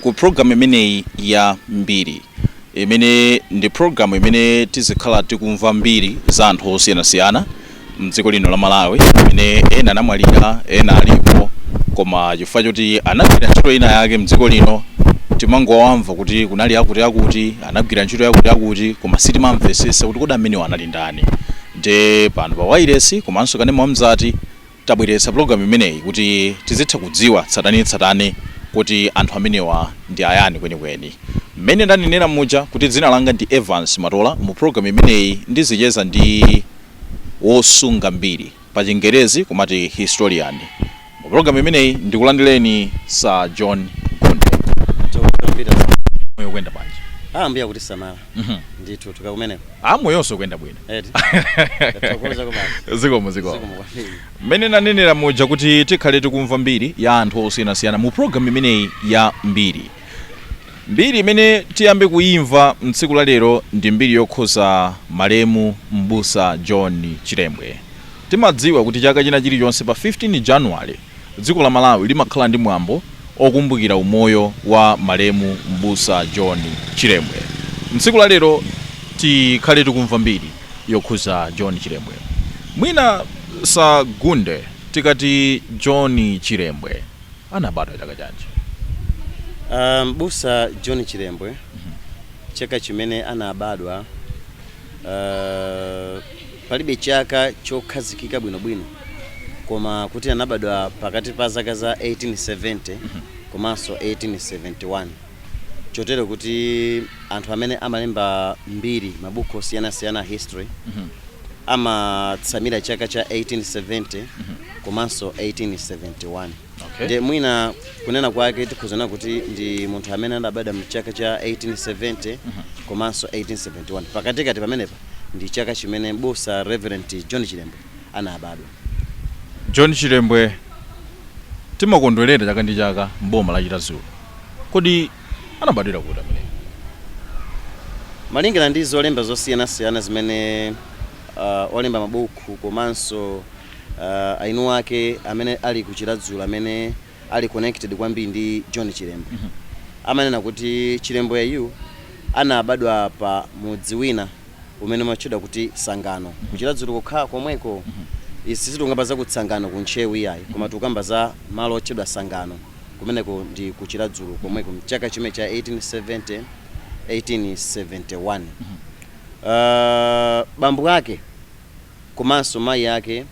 ku program imeneyi ya mbiri imene ndi program imene tizikhala tikumva mbiri za anthu osiyanasiyana mdziko lino la Malawi imene ena anamwalira ena alipo koma chifukwa choti anagwira ntchito ina yake mdziko lino timangowamva kuti kunali akuti akuti anagwira ntchito yakuti akuti koma sitimamvesesa kuti kodi amenewo anali ndani nde pano pa wailesi komanso kanema wamzati Tabweretsa program imeneyi kuti tizitha kudziwa tsatanetsatane kuti anthu amenewa ndi ayani kwenikweni. Mmene ndanenera muja kuti dzina langa ndi Evance Matola, mu program imeneyi ndizicheza ndi wosunga mbiri, pa chingerezi kumati historian. Mu program imeneyi ndikulandireni Sir John Gondwe. Zikomo kwambiri. Moyo ukuyenda bwanji? Ambuye akutisamala. ndithu tukakumeneko moyonso kuyenda bwino eti tathokoza basi zikomo zikomo zikomo kwambiri mmene nanenera muja kuti tikhale tikumva mbiri ya anthu osiyanasiyana mu programu imeneyi ya mbiri mbiri imene tiyambe kuyimva mtsiku la lero ndi mbiri yokhuza malemu mbusa john chilembwe timadziwa kuti chaka china chilichonse pa 15 januwale Dziko la Malawi limakhala ndi mwambo okumbukira umoyo wa malemu m'busa John Chilembwe. Mtsiku la lero tikhale tikumva mbiri yokhuza John Chilembwe. Mwina Sir Gondwe tikati John Chilembwe anabadwa chaka chanji? M'busa John Chilembwe chaka chimene anabadwa. Palibe chaka chokhazikika bwinobwino, koma kuti anabadwa pakati pa zaka za 1870 komanso 1871, chotero kuti anthu amene amalemba mbiri, mabuku osiyanasiyana a history, amatsamira chaka cha 1870 komanso 1871. Okay. Ndiye mwina kunena kwake tikhoza kunena kuti ndi munthu amene anabadwa mchaka cha 1870 komanso 1871 pakatikati pamenepa ndi chaka chimene m'busa Reverend John Chilembwe anabadwa. John Chilembwe, timakondwerera chaka ndi chaka m'boma la Chiradzulu. Kodi anabadwira kuti ameneyu? Malingana ndi zolemba zosiyanasiyana zimene uh, olemba mabuku komanso uh, eni ake amene ali ku Chiradzulu amene ali connected kwambiri ndi John Chilembwe amanena kuti Chilembwe yu anabadwa pa mudzi wina umene umatchedwa kuti Sangano ku Chiradzulu kokha komweko. Izi sitikukamba za ku Tsangano ku Ntcheu iyayi koma tikukamba za malo otchedwa Sangano kumeneko ndi ku Chiradzulu komweko mchaka chimenecho cha 1870, 1871. Bambo ake komanso mayi ake.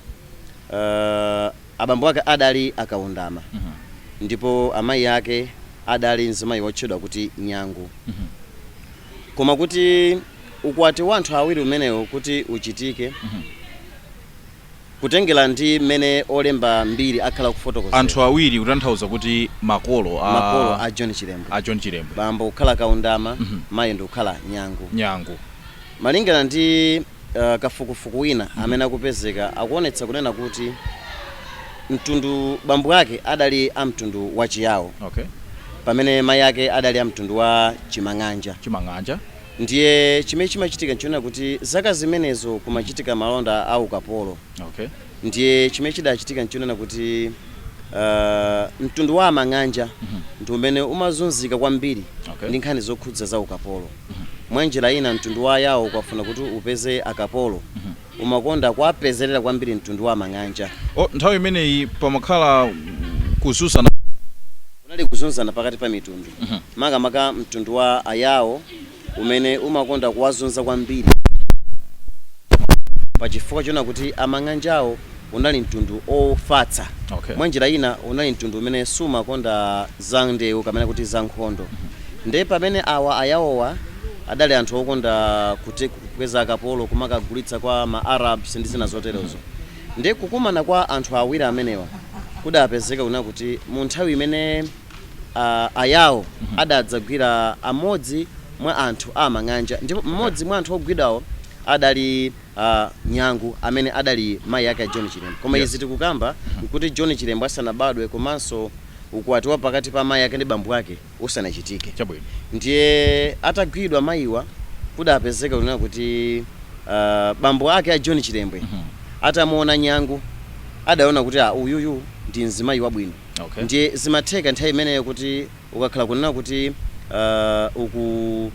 Abambo ake adali a Kaundama ndipo amayi ake adali mzimayi wotchedwa kuti Nyangu. Koma kuti ukwati wa anthu awiri umenewo kuti uchitike, kutengera ndi mmene olemba mbiri akhala akufotokozera. Anthu awiri kutanthauza kuti makolo a. Makolo a John Chilembwe. A John Chilembwe. Bambo kukhala Kaundama, mayi ndikukhala Nyangu. Nyangu. Malingana ndi kafukufuku wina amene akupezeka akuonetsa kunena kuti mtundu bambo ake adali a mtundu wa Chiyao Okay. pamene mai ake adali a mtundu wa Chimang'anja. Chimang'anja. Ndiye chimene chimachitika nchonena kuti zaka zimenezo kumachitika malonda a ukapolo. Okay. Ndiye chimene chidachitika nchonena kuti aah mtundu wa Amang'anja ndi umene umazunzika kwambiri Okay. ndi nkhani zokhudza za ukapolo. Mwanjira ina mtundu wa Ayao ukafuna kuti upeze akapolo umakonda kuwapezerera kwambiri mtundu wa amang'anja. o Nthawi imeneyi pamakhala kuzunzana. Kunali kuzunzana pakati pa mitundu, makamaka mtundu wa Ayao umene umakonda kuwazunza kwambiri pachifukwa chonena kuti amang'anjawo unali mtundu ofatsa. Okay. Mwa njira ina unali mtundu umene sumakonda za ndewu kapena kuti za nkhondo. Nde pamene awa a Yawowa adali anthu okonda kupeza akapolo kumakagulitsa kwa ma Arabs ndi zina zoterozo. Nde kukumana kwa anthu awiri amenewa kudapezeka kunena kuti mu nthawi imene a, a Yawo adadzagwira amodzi mwa anthu a Amang'anja ndipo Okay. mmodzi mwa anthu ogwidwawo adali a Nyangu amene adali mayi ake a John Chilembwe. Koma izi tikukamba nkuti John Chilembwe asanabadwe komanso ukwati wa pakati pa amayi ake ndi bambo ake usanachitike. Ndiye atagwidwa mayiwa kudapezeka kunena kuti bambo ake a John Chilembwe atamuona Nyangu adaona kuti aa, uyuyu ndi mzimayi wabwino ndiye zimatheka nthawi imeneyo kuti Ukakhala kunena kuti uh, uku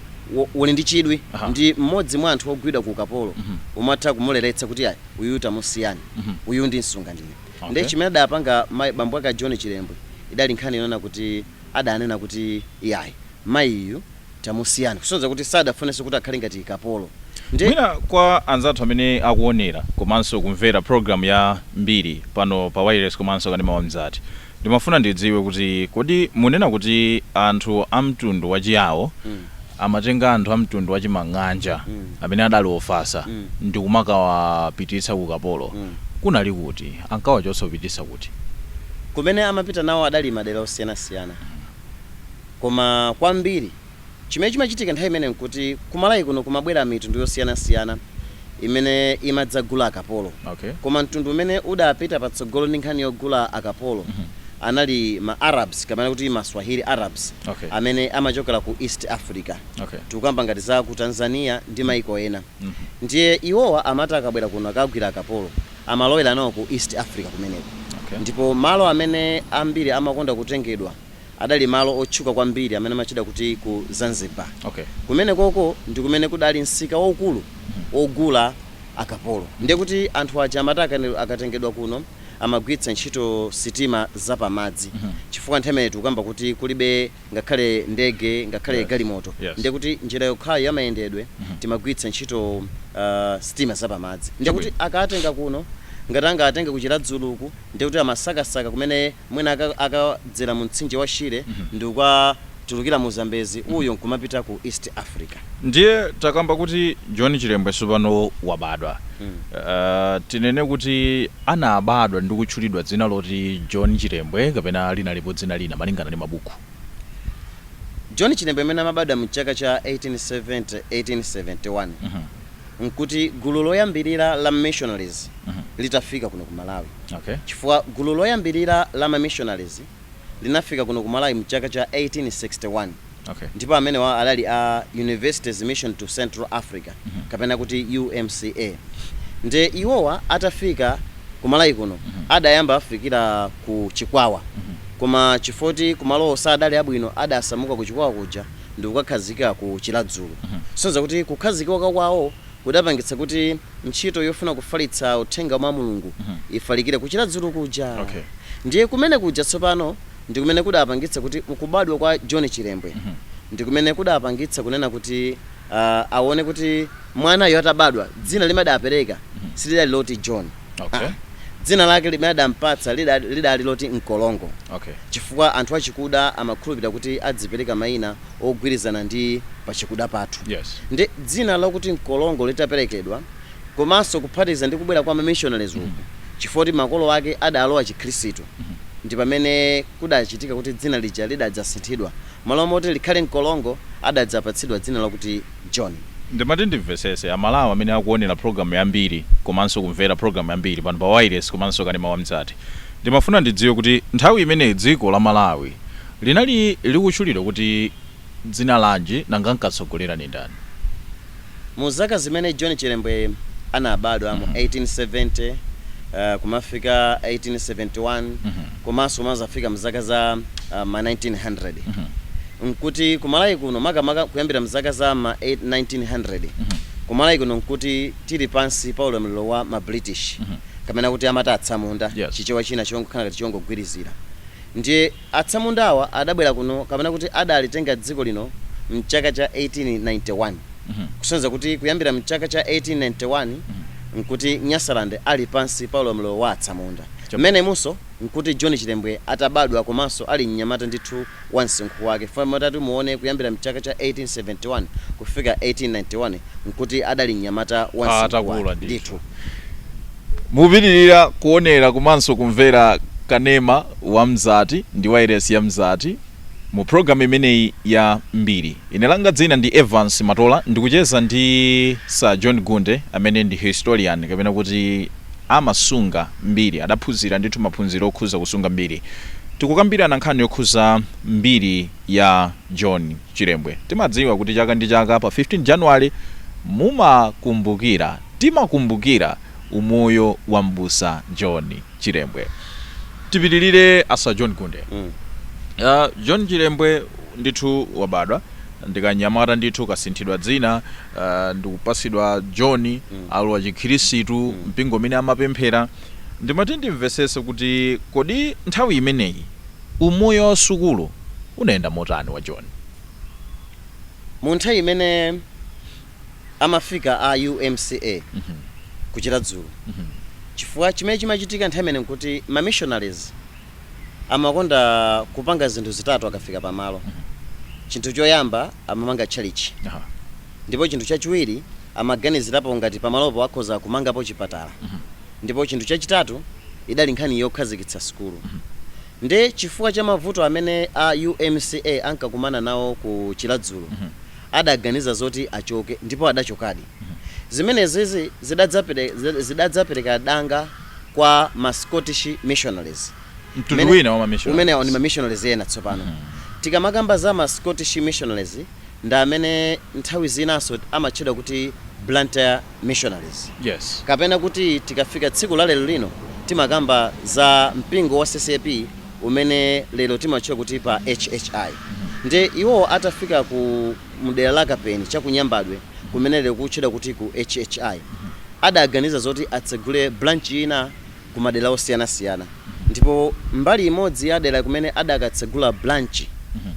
uli ndi chidwi uh -huh. ndi mmodzi mwa anthu ogwidwa ku ukapolo uh mhm. -huh. umatha kumuleretsa kuti ayi uyu tamusiyani uh mhm. -huh. uyu ndimsunga ndine okay. Ndiye chimene adapanga bambo ake a John Chilembwe idali nkhani yonena kuti adanena kuti iyayi mayiyu tamusiyani, kusonyeza kuti sadafunenso kuti akhale ngati kapolo. Ndiye. Mwina kwa anzathu amene akuonera komanso kumvera program ya Mbiri pano pa wailesi komanso Kanema wa Mzati, ndimafuna ndidziwe kuti kodi munena kuti anthu a mtundu wa Chiyao amatenga anthu a mtundu wa Chimang'anja amene adali ofasa ndikumakawapititsa ku ukapolo, kunali kuti? Ankawachotsa kupititsa kuti? Kumene amapita nawo adali madera osiyanasiyana. Koma kwambiri chimene chimachitika nthawi imeneyo nkuti ku Malawi kuno kumabwera mitundu yosiyanasiyana imene imadzagula akapolo. Okay. Koma mtundu umene udapita patsogolo ndi nkhani yogula akapolo anali ma Arabs kapena kuti ma Swahili Arabs Okay. amene amachokera ku East Africa. Okay. Tikukamba ngati za ku Tanzania ndi maiko ena. Ndiye iwowa amati akabwera kuno akagwira akapolo. amalowera nawo ku East Africa kumeneko okay. Ndipo malo amene ambiri amakonda kutengedwa adali malo otchuka kwambiri amene amatchida kuti ku Zanzibar okay. Kumenekoko ndi kumene kudali msika waukulu hmm. wogula akapolo ndiye kuti anthu aja amati akatengedwa kuno amagwiritsa ntchito sitima zapamadzi mm -hmm. chifukwa nthawi imeneyo tikukamba kuti kulibe ngakhale ndege ngakhale yes. galimoto yes. ndiye kuti njira yokhayo ya mayendedwe mm -hmm. timagwiritsa ntchito uh, sitima zapamadzi ndiye kuti akatenga kuno ngati angatenge ku Chiradzuluku ndiye kuti amasakasaka kumene mwina akadzera mu mtsinje wa Shire mm -hmm. ndi kukatulukira mu Zambezi uyo nkumapita ku East Africa Ndiye takamba kuti John Chilembwe sopano wabadwa. Tinene kuti anabadwa ndi kutchulidwa dzina loti John Chilembwe kapena linalipo dzina lina malingana ndi mabuku? John Chilembwe amene amabadwa mchaka cha 1870, 1871, nkuti gulu loyambilira la ma missionaries litafika kuno ku Malawi. Chifukwa gulu loyambilira la ma missionaries linafika kuno ku Malawi mchaka cha 1861 okay. ndipo amenewa adali a Universities Mission to Central Africa mm -hmm. kapena kuti UMCA nde iwowa atafika ku Malawi kuno mm -hmm. adayamba afikira ku Chikwawa mm -hmm. koma chifoti malowo sadali abwino adasamuka ku Chikwawa kuja ndikukakhazikika ku Chiradzulu mm -hmm. sonza kuti kukhazikika kwawo kudapangitsa kuti ntchito yofuna kufalitsa uthenga wa Mulungu ifalikire ku Chiradzulu kuja. Ndiye kumene kuja tsopano ndi kumene kudapangitsa kuti kubadwa kwa John Chilembwe ndi kumene kudapangitsa kunena kuti aah awone kuti mwanayu atabadwa dzina limene adapereka silidali loti John aah dzina lake limene adampatsa lidali loti Nkolongo chifukwa anthu achikuda amakhulupirira kuti adzipereka maina ogwirizana ndi pachikuda pathu. Yes. Nde dzina lakuti Nkolongo litaperekedwa komanso kuphatiza ndi kubwera kwa ma missionaries uku chifoti makolo ake adalowa chikhristu ndi pamene kudachitika kuti dzina lija lidadzasinthidwa. Mmalo moti likhale Nkolongo adadzapatsidwa dzina lakuti John. Ndimati ndimvesese aMalawi amene akuonela program ya Mbiri komanso kumvera program ya Mbiri pano pa wailesi komanso kanema wa Mzati ndimafuna ndidziwe kuti nthawi imeneyi dziko la Malawi linali likuchulidwa kuti dzina lanji nanga ankatsogolera nindani? Mu zaka zimene John Chilembwe anabadwa mu 1870 kumafika 1871, komanso mmadzafika m'zaka za m'ma 1900, n'kuti ku Malawi kuno, makamaka kuyambira m'zaka za m'ma 1900, ku Malawi kuno n'kuti tili pansi pa ulamuliro wa ma British, kapena kuti amati atsamunda, chichewa china chongokhala ngati chongogwirizira. Ndiye atsamundawa adabwera kuno, kapena kuti adalitenga dziko lino m'chaka cha 1891, kusonyeza kuti kuyambira m'chaka cha 1891 n'kuti Nyasaland ali pansi pa ulamuliro wa atsamunda. Mmenemunso nkuti John Chilembwe atabadwa komanso ali mnyamata ndithu wa msinkhu wake chifukwa mutati muone kuyambira mchaka cha 1871 kufika 1891 nkuti adali mnyamata wa msinkhu wake ndithu. Mukupitirira kuonera komanso kumvera kanema wa Mzati ndi wailesi ya Mzati. Mu program imeneyi ya mbiri. Ine langa dzina ndi Evance Matola ndikucheza ndi Sir John Gunde amene ndi historian kapena kuti amasunga mbiri, adaphunzira ndithu maphunziro okhuza kusunga mbiri. Tikukambirana nkhani yokhuza mbiri ya John Chilembwe. Timadziwa kuti chaka ndi chaka pa 15 January mumakumbukira, timakumbukira umoyo wa m'busa John. Chilembwe. Tipitilire a Sir John Gunde. Mm. Uh, John Chilembwe ndithu wabadwa ndikanyamata ndithu kasinthidwa dzina uh, ndikupasidwa John mm. alowa chikhirisitu mm. mpingo umene amapemphera ndimati ndimvesese kuti kodi nthawi imeneyi umoyo wa sukulu unayenda motani wa John? Mu nthawi imene amafika a UMCA ku Chiradzulu chifukwa chimene chimachitika nthawi imeneyo nkuti ma missionaries amakonda kupanga zinthu zitatu akafika pamalo. Chinthu choyamba amamanga tchalitchi ndipo chinthu chachiwiri amaganizirapo ngati pamalopo akhoza kumangapo chipatala ndipo chinthu chachitatu idali nkhani yokhazikitsa sukulu. Nde chifukwa cha mavuto amene a UMCA ankakumana nawo ku Chiradzulu adaganiza zoti achoke ndipo adachokadi. Zimenezi zidadzapereka danga kwa ma Scottish Missionaries. Amenewa ndi ma Missionaries ena tsopano. Tikamakamba za ma Scottish Missionaries ndi amene nthawi zinanso amatchedwa kuti Blantyre Missionaries kapena kuti tikafika tsiku la lero lino timakamba za mpingo wa C.C.A.P. umene lero timatchedwa kuti pa HHI ndiye iwo atafika ku mdera la Kapeni cha ku Nyambadwe kumene lero kukutchedwa kuti ku HHI adaganiza zoti atsegule branch ina kumadera osiyanasiyana ndipo mbali imodzi ya dera kumene adakatsegula branch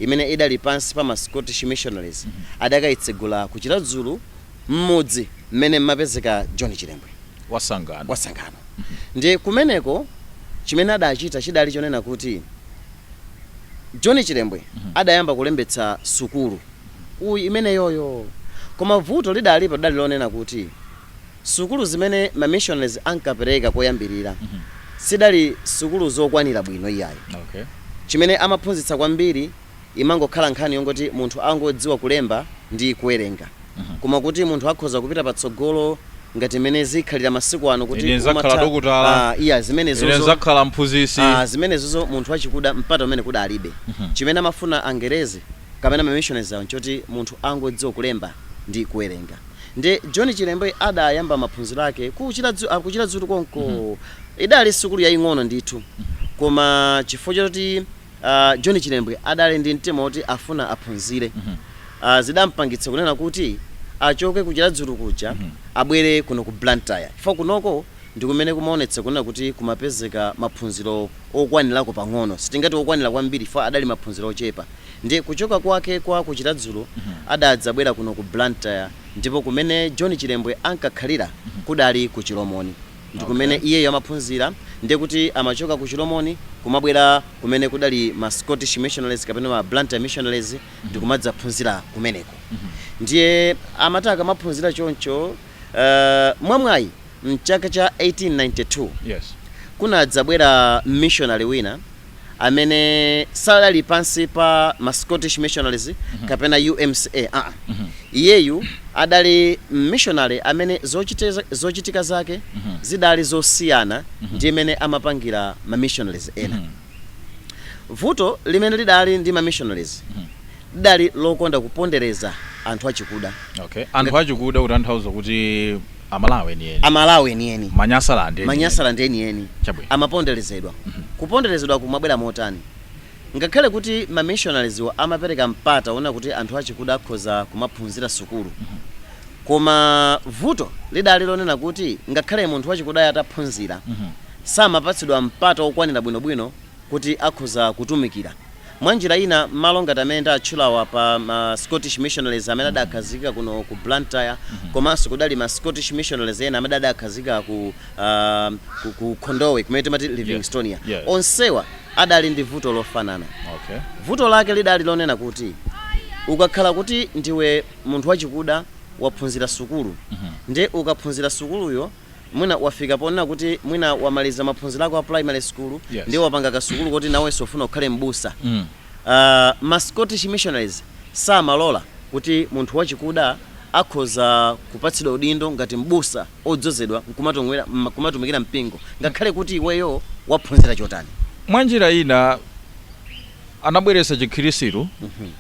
imene idali pansi pa ma Scottish Missionaries adakaitsegula ku Chiradzulu m'mudzi mmene mmapezeka John Chilembwe wa Sangano. wa Sangano. Ndiye kumeneko chimene adachita chidali chonena kuti John Chilembwe adayamba kulembetsa sukulu imeneyoyo. Koma vuto lidalipo lidali lonena kuti sukulu zimene ma missionaries ankapereka koyambirira sidali sukulu zokwanira bwino iyayi. Okay. Chimene amaphunzitsa kwambiri imangokhala nkhani yongoti munthu angodziwa kulemba ndi kuwerenga koma kuti munthu akhoza kupita patsogolo ngati mmene zikhalira masiku ano kuti Ine nzakhala umatha- dokotala. Ah, iya Ine zimenezozo nzakhala mphunzitsi. Ah, zimenezozo munthu wachikuda mpata umenewu adalibe chimene amafuna angerezi kapena mamissionaries awo nchoti munthu angodziwa kulemba ndi kuwerenga nde john chilembwe adayamba maphunziro ake kuchiladzu ah, ku Chiradzulu konko idali sukulu yaying'ono ndithu koma chifukwa choti John Chilembwe adali ndi mtima woti afuna aphunzire zidampangitsa kunena kuti achoke ku Chiradzulu kuja abwere kuno ku Blantyre chifukwa kunoko ndi kumene kumaonetsa kunena kuti kumapezeka maphunziro okwanirako pang'ono, sitingati okwanira kwambiri chifukwa adali maphunziro ochepa. Ndiye kuchoka kwake kwa ku Chiradzulu adadzabwera kuno ku Blantyre ndipo kumene John Chilembwe ankakhalira kudali ku Chilomoni. ndi kumene iyeyo amaphunzira, ndiye kuti amachoka ku Chilomoni kumabwera kumene kudali ma Scottish Missionaries kapena ma Blantyre Missionaries ndi kumadzaphunzira kumeneko. Ndiye amati akamaphunzira choncho, eh, mwamwayi m'chaka cha 1892 Yes. kunadzabwera mmishonale wina amene sadali pansi pa ma Scottish Missionaries kapena UMCA aa. Iyeyu adali mmishonale amene zochitika zake zidali zosiyana ndi mmene amapangira ma missionaries ena. Vuto limene lidali ndi ma missionaries lidali lokonda kupondereza anthu achikuda. Okay. Anthu achikuda kutanthauza kuti Amalawi enieni. Amalawi enieni. Manyasaland enieni. Manyasaland enieni. Chabwino. Amaponderezedwa. Mm -hmm. Kuponderezedwa kumabwera motani? Ngakhale kuti ma missionarieswo amapereka mpata wonena kuti anthu achikuda akhoza kumaphunzira sukulu. Mm -hmm. Koma vuto lidali lonena kuti ngakhale munthu wachikuda ataphunzira mm -hmm. samapatsidwa mpata wokwanira bwinobwino kuti akhoza kutumikira. Mwa njira ina, m'malo ngati amene ndatchulawa pa ma Scottish Missionaries amene adakhazikika kuno ku Blantyre komanso kudali ma Scottish Missionaries ena amene adakhazikika ku, aah, ku Khondowe kumene timati Yes, Livingstonia, yes. onsewa adali ndi vuto lofanana. Okay. Vuto lake lidali lonena kuti ukakhala kuti ndiwe munthu wachikuda waphunzira sukulu nde ukaphunzira sukuluyo, Mwina wafika ponena kuti mwina wamaliza maphunziro ako a primary school yes. ndiye wapanga kasukulu kuti nawenso ufuna ukhale m'busa mm. uh, ma Scottish missionaries samalola kuti munthu wachikuda akhoza kupatsidwa udindo ngati m'busa odzozedwa nkumatumikira mpingo ngakhale kuti iweyo waphunzira chotani mwanjira ina Anabweretsa chikhristu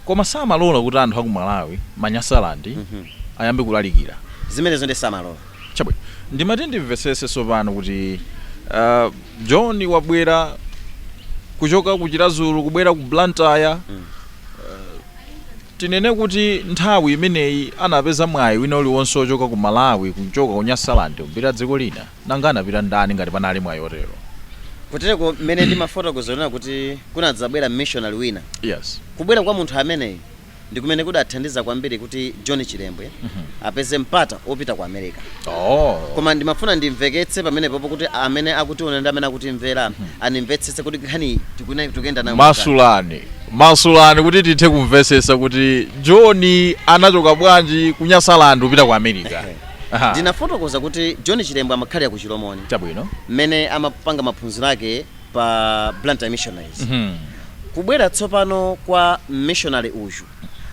koma samalola kuti anthu aku Malawi, ma Nyasaland, ayambe kulalikira. Zimenezo ndiye samalola. Chabwino. Ndimati ndimvetsetse tsopano kuti John wabwera kuchoka ku Chiradzulu kubwera ku Blantyre, tinene kuti nthawi imeneyi anapeza mwayi wina uliwonse wochoka ku Malawi, kuchoka ku Nyasaland kupita dziko lina? Nanga anapita ndani ngati panali mwayi otero? Kutereko mmene ndimafotokoza kunena kuti kunadzabwera mmishonale wina. Yes. Kubwera kwa munthu ameneyi ndi kumene kudathandiza kwambiri kuti John Chilembwe apeze mpata opita ku America. Oh. Koma ndimafuna ndimveketse pamenepopo kuti amene akutiona ndi amene akutimvera animvetsetse kuti nkhaniyi tikune- tikuyenda nayo motani. Masulani. Masulani kuti tithe kumvetsetsa kuti John anachoka bwanji ku Nyasaland kupita ku America. Aha. Ndinafotokoza kuti John Chilembwe amakhalira ku Chilomoni Chabwino. mmene amapanga maphunziro ake pa Blantyre Missionaries. Mhm. Kubwera tsopano kwa mmishonale uyu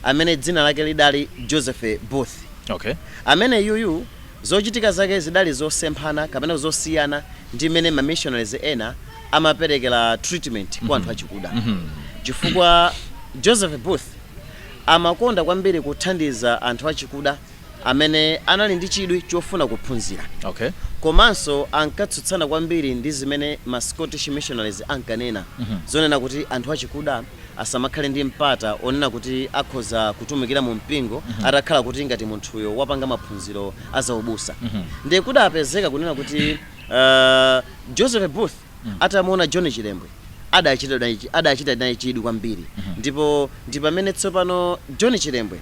amene dzina lake lidali Joseph Booth. Okay. Amene yuyu zochitika zake zidali zosemphana kapena zosiyana ndi mmene ma missionaries ena amaperekera treatment kwa anthu achikuda. Chifukwa Joseph Booth amakonda kwambiri kuthandiza anthu achikuda amene anali ndi chidwi chofuna kuphunzira Okay. komanso ankatsutsana kwambiri ndi zimene ma Scottish missionaries ankanena zonena kuti anthu achikuda asamakhale ndi mpata onena kuti akhoza kutumikira mu mpingo atakhala kuti ngati munthuyo wapanga maphunziro a zaubusa ndiye kudapezeka kunena kuti uh, Joseph Booth atamuona John Chilembwe adachita naye chi- adachita naye chidwi kwambiri ndipo ndi pamene tsopano John Chilembwe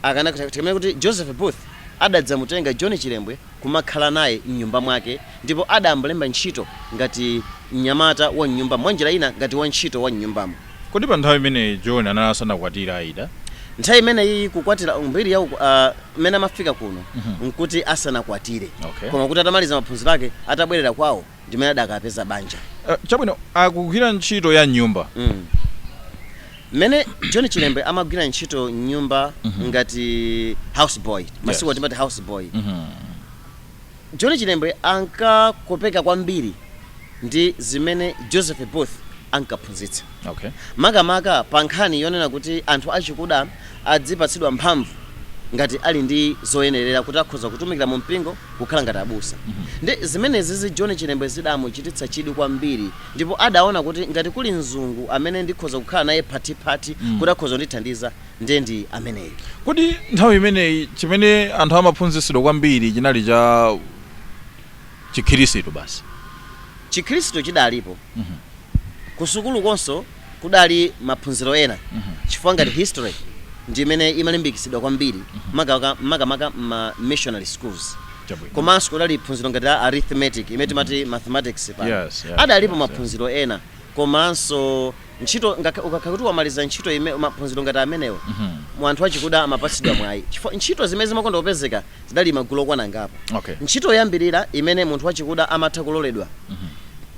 akana tikamene kuti Joseph Booth adadzamutenga John Chilembwe kumakhala naye mnyumba mwake ndipo adamlemba ntchito ngati mnyamata wa mnyumbamo mwa njira ina ngati wantchito wa mnyumbamo kodi pa nthawi imeneyi john anali asanakwatira aida nthawi imeneyi kukwatira mbiri ya uku- ah, mmene amafika kuno nkuti asanakwatire Okay. koma kuti atamaliza maphunziro ake atabwerera kwawo ndimene adakapeza banja Eh, chabwino akugwira ntchito ya mnyumba Mm. mmene john chilembwe amagwira ntchito mnyumba ngati house boy masiku ano Yes. timati house boy john chilembwe ankakopeka kwambiri ndi zimene joseph booth ankaphunzitsa Okay. makamaka pa nkhani yonena kuti anthu achikuda adzipatsidwa mphamvu ngati ali ndi zoyenerera kuti akhoza kutumikira mu mpingo kukhala ngati abusa ndi zimenezizi john chilembwe zidamuchititsa chidwi kwambiri ndipo adaona kuti ngati kuli mzungu amene ndikhoza kukhala naye phathiphathi kuti akhoza kundithandiza ndiye ndi ameneyu kodi nthawi imeneyi chimene anthu amaphunzitsidwa kwambiri chinali cha chikhristu basi chikhristu chidalipo kusukulukonso kudali maphunziro ena chifukwa ngati history ndi imene imalimbikitsidwa kwambiri makamaka ma missionary schools Chabwino. komanso kudali phunziro ngati la arithmetic imene timati mathematics pano Yes, yes, adalipo maphunziro ena komanso ntchito ngakha- ukakhala kuti wamaliza ntchito ime maphunziro ngati amenewo mu anthu achikuda amapatsidwa mwayi chifukwa ntchito zimene zimakonda kupezeka Zidali magulu okwana angapo. Okay. Ntchito yoyambirira imene munthu wachikuda amatha kuloledwa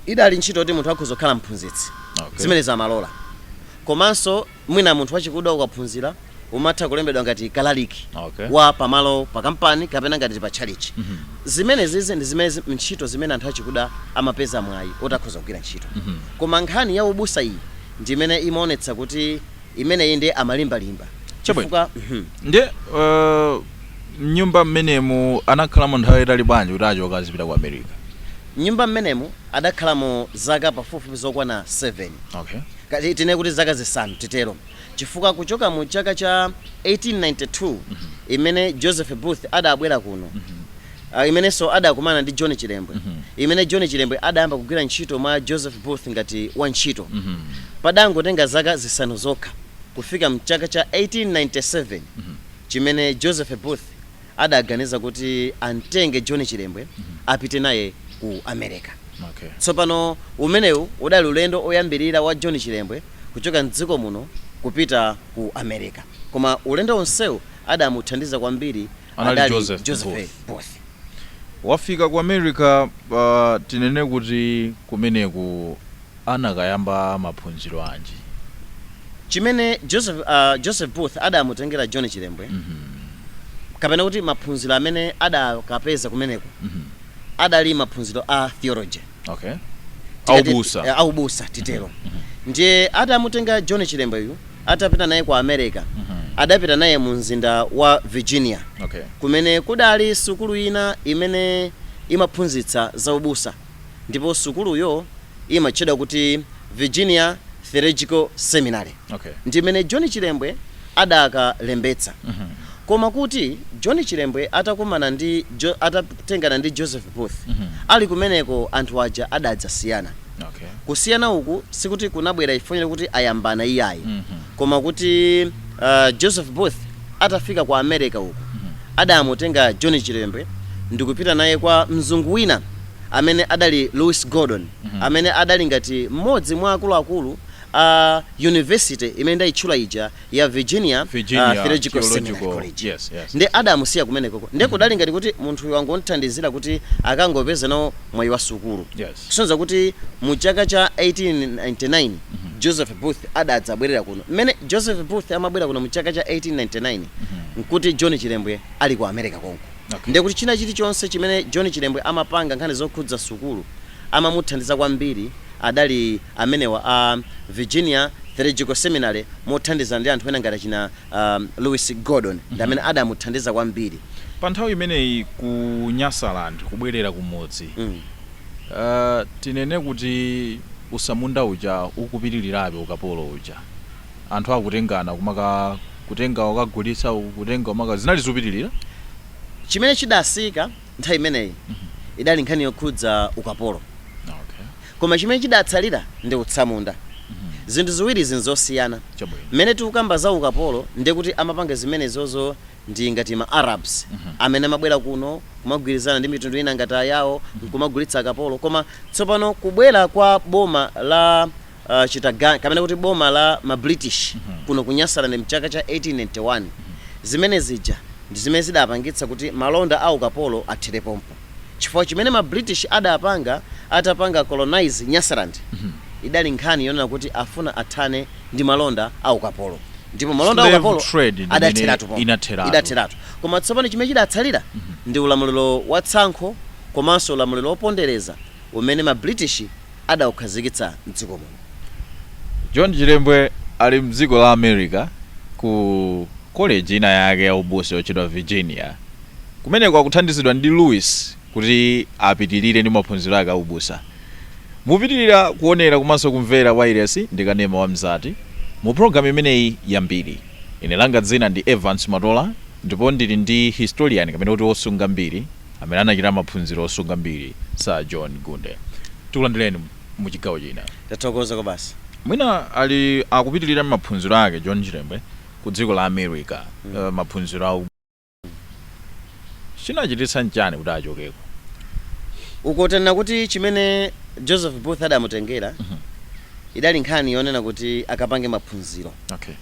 idali ntchito yoti munthu akhoza kukhala mphunzitsi. Okay. Zimenezo amalola. Komanso mwina munthu wachikuda ukaphunzira umatha kulembedwa ngati kalaliki Okay. wa pamalo pa kampani kapena ngati pa tchalitchi. Zimenezizi ndi zimene zi- ntchito zimene anthu achikuda amapeza mwayi oti akhoza kugwira ntchito. Koma nkhani ya ubusa iyi ndi imene imaonetsa kuti imeneyi ndiye amalimbalimba. Chabwino. Chifukwa mhm. Nde uh, Mnyumba mmenemu anakhalamo nthawi yaitali bwanji kuti achoke azipita ku America? Mnyumba mmenemu adakhalamo zaka pafupifupi zokwana 7. Okay. Kaya tinene kuti zaka zisanu titero chifukwa kuchoka mu chaka cha 1892 imene Joseph Booth adabwera kuno ah, imenenso adakumana ndi John Chilembwe imene John Chilembwe adayamba kugwira ntchito mwa Joseph Booth ngati wantchito padangotenga zaka zisanu zokha kufika mchaka cha 1897 chimene Joseph Booth adaganiza kuti amtenge John Chilembwe apite naye ku America. Okay. Tsopano umenewu udali ulendo oyambirira wa John Chilembwe kuchoka m'dziko muno kupita ku America. Koma ulendo wonsewu adamuthandiza kwambiri Anali adali Joseph Joseph Booth. Booth. Wafika ku America, ah, tinene kuti kumeneku anakayamba maphunziro anji? Chimene Joseph Joseph Booth adamutengera John Chilembwe kapena kuti maphunziro amene adakapeza kumeneko adali maphunziro a Theology Okay. A tikati ubusa. eh, a ubusa titero ndiye adamutenga John Chilembweyu atapita naye ku America adapita naye mu mzinda wa Virginia Okay. kumene kudali sukulu ina imene imaphunzitsa za ubusa ndipo sukuluyo imatchedwa kuti Virginia Theological Seminary okay. ndi mmene John Chilembwe adakalembetsa mm -hmm. koma kuti John Chilembwe atakumana ndi jo, atatengana ndi Joseph Booth mm -hmm. ali kumeneko anthu aja adadzasiyana okay. kusiyana uku sikuti kunabwera ifo yoti anayambana iyayi mm -hmm. Koma kuti Joseph Booth atafika ku America uku adamutenga John Chilembwe ndikupita naye kwa mzungu wina amene adali Louis Gordon amene adali ngati mmodzi mwa akuluakulu a University imene ndayitchula ija ya Virginia Theological Seminary College nde adamusiya kumenekoko nde kudali ngati kuti munthuyu wangomuthandizira kuti akangopeza nawo mwayi wa sukulu. Kusonyeza kuti mu chaka cha 1899 Joseph Booth adadzabwerera kuno. Mmene Joseph Booth amabwera kuno mu chaka cha 1899 n'kuti John Chilembwe ali ku America konko. Okay. Ndiye kuti china chilichonse chimene John Chilembwe amapanga nkhani zokhudza sukulu amamuthandiza kwambiri adali amenewa a Virginia Theological Seminary mothandizana ndi anthu ena ngati achina um, Louis Gordon ndi amene adamuthandiza kwambiri. Pa nthawi imeneyi ku Nyasaland kubwerera kumudzi Mm. Tinene kuti utsamunda uja ukupitilirabe ukapolo uja anthu akutengana kumaka kutenga ukagulitsa kutenga umaka zinali zupitilira? Chimene chidasiyika nthawi imeneyi idali nkhani yokhudza ukapolo koma chimene chidatsalira ndi utsamunda zinthu ziwirizi nzosiyana. Mmene tikukamba za ukapolo ndekuti amapanga zimenezozo ndi ngati ma Arabs amene amabwera kuno kumagwirizana ndi mitundu ina ngati ayao nkumagulitsa akapolo koma tsopano kubwera kwa boma la uh, chitaganya kapena kuti boma la ma British kuno ku Nyasaland mchaka cha 1891 zimene zija ndi zimene zidapangitsa kuti malonda a ukapolo athere pompo. chifukwa chimene ma British adapanga atapanga colonize Nyasaland idali nkhani yonena kuti afuna athane ndi malonda a ukapolo ndipo malonda a Slave ukapolo trade ndi imene adatheratu pompo. inatheratu. idatheratu koma tsopano chimene chidatsalira ndi ulamuliro wa tsankho komanso ulamuliro wopondereza umene ma British adaukhazikitsa mdziko muno. John Chilembwe ali m'dziko la America ku koleji ina yake ya ubusa yotchedwa Virginia. Kumeneko akuthandizidwa ndi Louis kuti apitirire ndi maphunziro ake a ubusa. Mupitirira kuonera komanso kumvera wailesi ndi kanema wa Mzati mu pulogalamu imeneyi ya Mbiri. Ine langa dzina ndi Evance Matola ndipo ndili ndi historian kapena kuti wosunga mbiri amene anachita maphunziro osunga mbiri Sir John Gunde. Tikulandireni. mu chigawo china. Tathokoza kwabasi. Mwina ali akupitilira ndi maphunziro ake John Chilembwe ku dziko la America mm. uh, maphunziro a chinachititsa nchani kuti achokeko uko Tinanena kuti chimene Joseph Booth adamutengera mm -hmm. idali nkhani yonena kuti akapange maphunziro okay.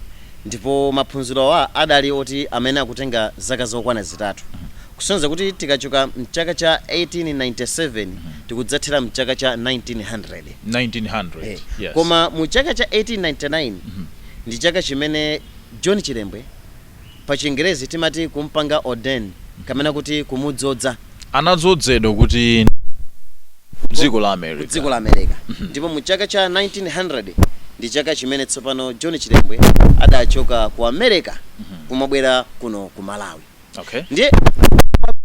ndipo maphunziro awa adali oti amene akutenga zaka zokwana zitatu mm -hmm. Kusonyeza kuti tikachoka m'chaka cha 1897 tikudzathera m'chaka cha 1900. 1900, yes. Koma mu chaka cha 1899 ndi chaka chimene John Chilembwe, pa chingerezi timati kumpanga ordain kapena kuti kumudzoza. Anadzozedwa kuti? Ku dziko la America. Ku dziko la America. Ndipo mu chaka cha 1900 ndi chaka chimene tsopano John Chilembwe adachoka ku America kumabwera kuno ku Malawi. Okay. ndiye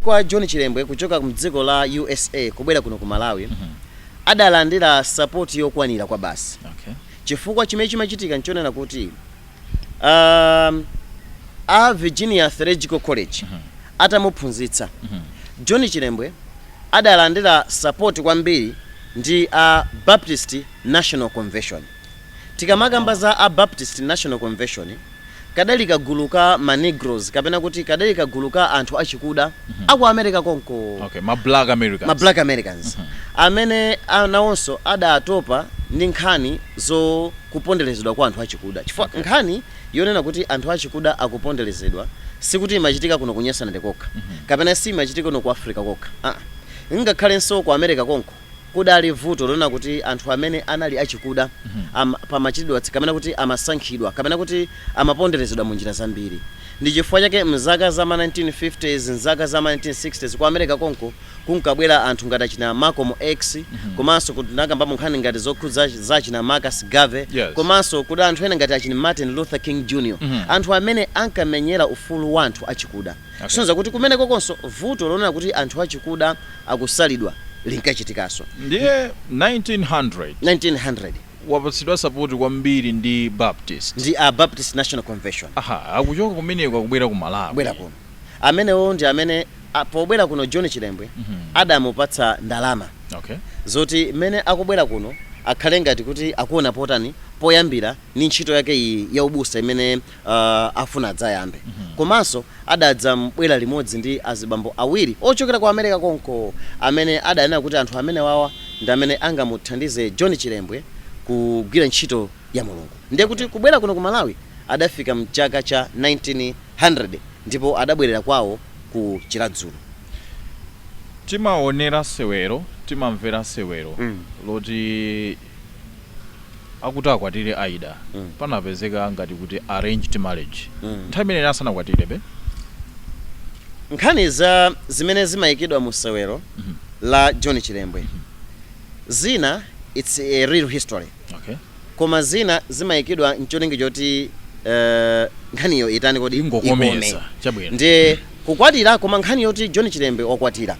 kwa john chilembwe kuchoka mdziko la usa kubwera kuno ku malawi mm -hmm. adalandira sapoti yokwanira kwa basi okay. chifukwa chimene chimachitika nchonena kuti um, a virginia theological college mm -hmm. atamuphunzitsa mm -hmm. john chilembwe adalandira sapoti kwambiri ndi a baptist national convention Tikamakamba za a Baptist National Convention, kadali kagulu ka ma Negroes, kapena kuti kadali kagulu ka anthu achikuda a ku America konko, Okay, ma Black Americans. ma Black Americans, amene a- nawonso adatopa ndi nkhani za kuponderezedwa kwa anthu achikuda. Chifukwa nkhani yonena kuti anthu achikuda akuponderezedwa sikuti imachitika kuno ku Nyasaland kokha, kapena siimachitika kuno ku Africa kokha. Ah, ngakhalenso ku America konko. kudali vuto lonena kuti anthu amene anali achikuda am, pamachitidwa tsi kapena kuti amasankhidwa kapena kuti amaponderezedwa mu njira zambiri. Ndi chifukwa chake mzaka za ma 1950s, mzaka za ma 1960s ku Amerika konko kunkabwera anthu ngati achina Malcolm X komanso ku tinakambapo nkhani ngati zokhudza za achina Marcus Garvey Yes. komanso kudali anthu ena ngati achina Martin Luther King Jr. Anthu amene ankamenyera ufulu wa anthu achikuda. Kusonyeza kuti kumenekokonso vuto lonena kuti anthu achikuda akusalidwa linkachitikanso. Ndiye 1900. 1900. Wapatsidwa sapoti kwambiri ndi Baptist. Ndi a Baptist National Convention. Aha, akuchoka kumeneko akubwera ku Malawi. Kubwera kuno. Amenewo ndi amene a, pobwera kuno John Chilembwe adamupatsa ndalama Okay. zoti mmene akubwera kuno akhale ngati kuti akuona potani, poyambira ndi ntchito yake iyi ya ubusa imene uh, afuna adzayambe komanso adabwera limodzi ndi azibambo awiri ochokera ku america konko amene adaona kuti anthu amene wawa ndi amene angamuthandize john chilembwe kugwira ntchito ya mulungu ndiye kuti kubwera kuno ku malawi adafika mchaka cha 1900 ndipo adabwerera kwawo ku chiradzulu timaonera sewero timamvera sewero Mm. loti akuti akwatire Aida panapezeka ngati kuti arranged marriage nthawi imene ina asanakwatirebe. Nkhani za zimene zimaikidwa mu sewero la John Chilembwe zina its a real history Okay. koma zina zimaikidwa ncholinga choti eh, nkhaniyo itani kodi Ingokomeza, ikome. chabwino. ndiye kukwatira koma nkhani yoti John Chilembwe wakwatira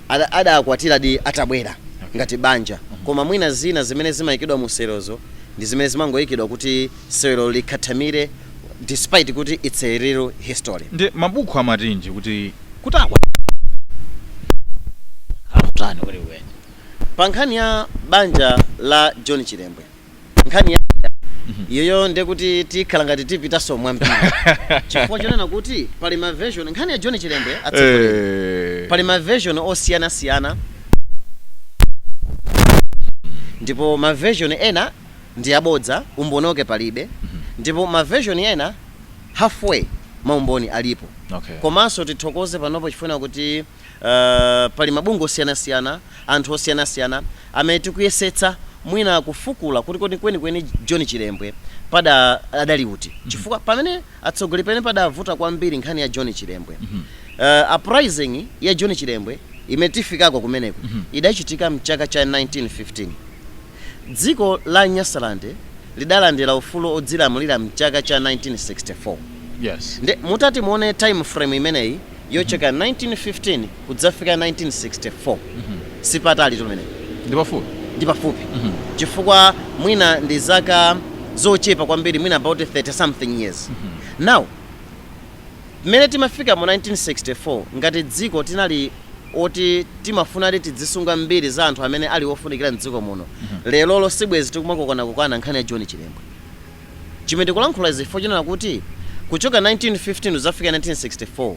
ada adakwatiradi atabwera okay. ngati banja mm -hmm. koma mwina zina zimene zimayikidwa mu sewerozo ndi zimene zimangoyikidwa kuti sewero likhathamire despite kuti it's a real history ndi mabuku amati chiyani kuti kuti akwa akutani kwenikweni pa nkhani ya banja la john chilembwe nkhani yaiyoyo nde kuti tikhala ngati tipitanso mwambiri chifukwa chonena kuti pali ma version nkhani ya john chilembwe atsogoleri Eh, pali ma version osiyanasiyana ndipo ma version ena ndi abodza umboni wake palibe ndipo ma version ena halfway maumboni alipo okay. komanso tithokoze panopo chifukwa kuti pali mabungwe osiyanasiyana, anthu osiyanasiyana amene tikuyesetsa mwina kufukula kuti kodi kwenikweni John Chilembwe pada adali uti chifukwa pamene atsogoleri pamene padavuta kwambiri nkhani ya John Chilembwe uh, uprising ya John Chilembwe imene tifikako kumeneko idachitika mchaka cha 1915 Dziko la Nyasalande lidalandira ufulu odzilamulira mchaka cha 1964. Yes. Nde mutati muone time frame imeneyi yochokera 1915 kudzafika 1964 sipatalitu pamenepa. Ndi pafupi. Ndi pafupi chifukwa mwina ndi zaka zochepa kwambiri mwina about 30 something years. Now. Mmene timafika mu 1964 ngati dziko tinali oti timafunadi tidzisunga mbiri za anthu amene ali ofunikira mdziko muno lerolo sibwezi tikumakokanakokana nkhani ya John Chilembwe chomwe ndikulankhula izi chifukwa chonena kuti kuchoka 1915 kudzafika 1964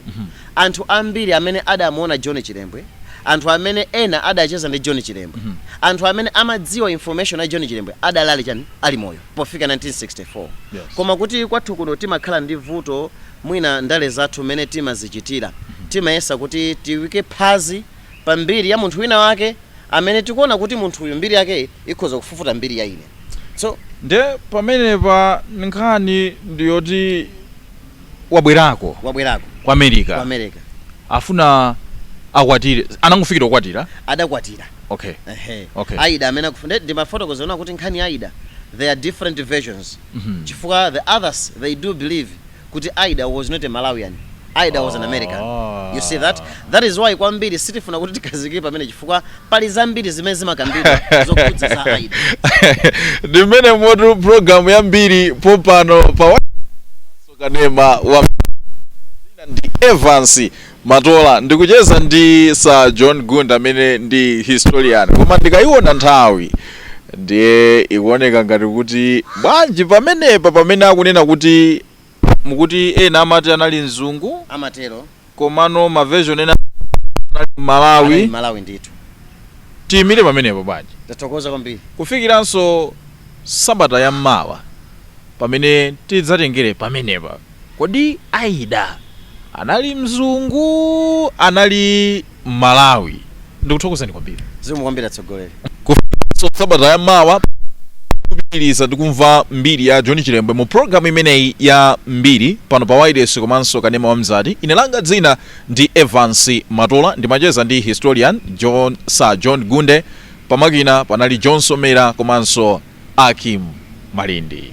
anthu ambiri amene adamuona John Chilembwe anthu amene ena adacheza ndi John Chilembwe anthu amene amadziwa information ya John Chilembwe adali ali chani ali moyo pofika 1964 Yes. koma kuti kwathu kuno timakhala ndi vuto mwina ndale zathu mmene timazichitira timayesa kuti tiyike phazi pa mbiri ya munthu wina wake amene tikuona kuti munthu uyu mbiri yake ikhoza kufufuta mbiri ya ine so nde pamenepa nkhani ndiyoti wabwerako wabwerako ku america ku america afuna akwatire anangofikira kukwatira adakwatira okay Ehe. Okay. aida amene akufuna ndimafotokozawo ona kuti nkhani ya aida there are different versions Mhm. chifukwa the others they do believe kuti aida was not a malawian aida was an american Ah. you see that that is why kwambiri sitifuna kuti tikhazikire pamene chifukwa pali zambiri zimene zimakambidwa zokhudza za aida ndi momwemotu programu ya mbiri pompano pa wa- kanema wa mzati ndi evans matola ndikucheza ndi sir john gunde amene ndi historian koma ndikayiona nthawi ndiye ikuoneka ngati kuti bwanji pamenepa pamene akunena kuti Mukuti ena amati anali mzungu amatero komano ma version ena anali mmalawi. Anali mmalawi ndithu. Tiyimire pamenepo bwanji? Tathokoza kwambiri. Kufikiranso sabata ya mawa pamene tidzatengere pamenepa. Kodi Aida anali mzungu anali. mmalawi ndikuthokozani kwambiri zikomo kwambiri atsogoleri so sabata ya mawa kupitiliza ndi kumva mbiri ya john chilembwe mu programu imeneyi ya mbiri pano pa wayilesi komanso kanema wa mzati ine langa dzina ndi evans matola ndimacheza ndi historian john sir john gunde pamakina panali john somera komanso akim malindi